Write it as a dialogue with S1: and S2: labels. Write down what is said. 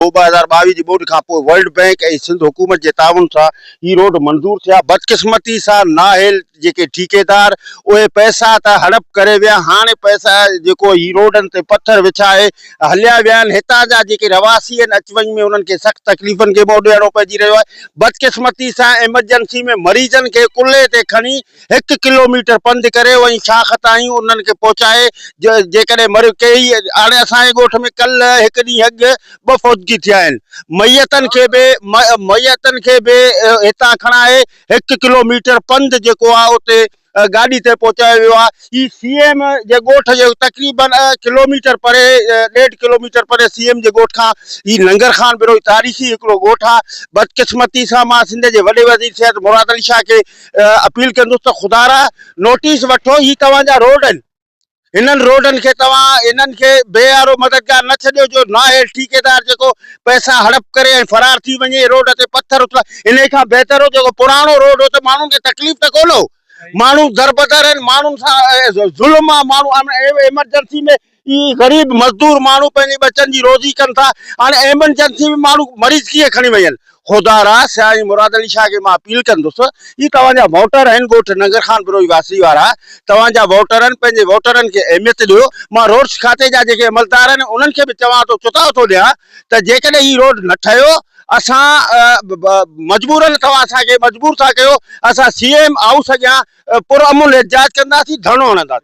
S1: ٻه هزار ٻاويهه جي ٻوڏ کان پوء ورلڊ بئنڪ ۽ سنڌ حڪومت جي تعاون سان هي روڊ منظور ٿيا. بدقسمتي سان نااهل جيڪي ٺيڪيدار اهي پئسا ته هڙپ ڪري ويا هاڻي پئسا جيڪو هي روڊن تي پٿر وڇائي هليا ويا آهن هتان جا جيڪي رهواسي آهن اچ وڃ ۾ انهن کي سخت تڪليفن کي منهن ڏيڻو پئجي رهيو آهي. بدقسمتي سان ايمرجنسي ۾ مريضن کي ڪلهي تي کڻي هڪ ڪلو ميٽر پنڌ ڪري وئين ڇا خطا آهيون انهن کي پهچائي جيڪڏهن مر ڪيئي هاڻي اسان جي ڳوٺ ۾ ڪل هڪ ڏينهن اڳ ٻه فوتگي ٿيا آهن ميتن کي به ميتن کي به هتان کڻائي هڪ ڪلو ميٽر پنڌ جيڪو آهي اتي گاڏي تي پهچايو ويو آهي هي سي ايم جي ڳوٺ جي تقريبن ڪلو ميٽر پري ڏيڍ ڪلو ميٽر پري سي ايم جي ڳوٺ کان هي ننگر خان بروهي تاريخي هڪڙو ڳوٺ آهي بدقسمتي سان مان سنڌ جي وڏي وزير سيد مراد علي شاهه کي اپيل ڪندس ته خدا را نوٽيس وٺو هي توهان جا روڊ آهن هنن روڊن کي توهان انهن کي بي آر او مددگار نه ڇڏيو جو نااهل ٺيڪيدار جيڪو پئسا هڙپ ڪري ۽ فرار ٿي وڃي روڊ تي پٿر اڇلا انهي کان بهتر هو جيڪو پراڻو روڊ هو ته ماڻهن کي تڪليف ته ڪونه هو ماڻهو دربدر آهن ماڻهن سان ظلم آهي ماڻهو ايمرجنسي ۾ غريب مزدور ماڻهو پنهنجي ٻچن جي روزي ڪن ٿا هاڻي ايمرجنسي ۾ ماڻهو مريض ڪيئن کڻي وڃن خدا را سياڻي مراد علي شاهه کي مان اپيل ڪندس هي توهان جا ووٽر آهن ڳوٺ ننگر خان بروهي واسي وارا توهان جا ووٽر آهن پنهنجي ووٽرن کي اهميت ڏيو مان روڊس کاتي جا جيڪي عملدار آهن انهن کي به چوان ٿو چتاء ٿو ڏيان ته جيڪڏهن هي روڊ نه ٺهيو اسان مجبورن توهان اسان کي مجبور ٿا ڪيو اسان سي ايم هائوس اڳيان پرامن احتجاج ڪنداسين ڌرڻو هڻنداسين.